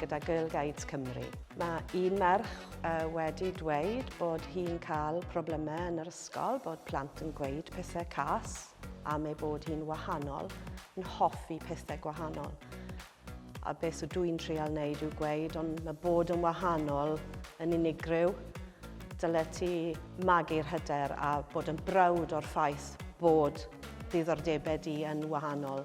gyda Girl Guides Cymru. Mae un merch wedi dweud bod hi'n cael problemau yn yr ysgol, bod plant yn gweud pethau cas am ei bod hi'n wahanol, yn hoffi pethau gwahanol. A beth sydd dwi'n trial wneud yw gweud, ond mae bod yn wahanol yn unigryw. Dyle ti magu'r hyder a bod yn brawd o'r ffaith bod ddiddordebau di yn wahanol.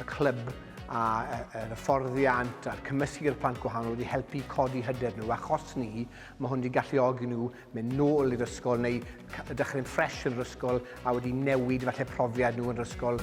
y clwb a'r hyfforddiant a'r cymysgu gyda'r plant gwahanol wedi helpu i codi hyder nhw. Achos ni, mae hwn wedi galluogi nhw mynd nôl i'r ysgol neu dechrau'n ffres yn yr ysgol a wedi newid falle profiad nhw yn yr ysgol.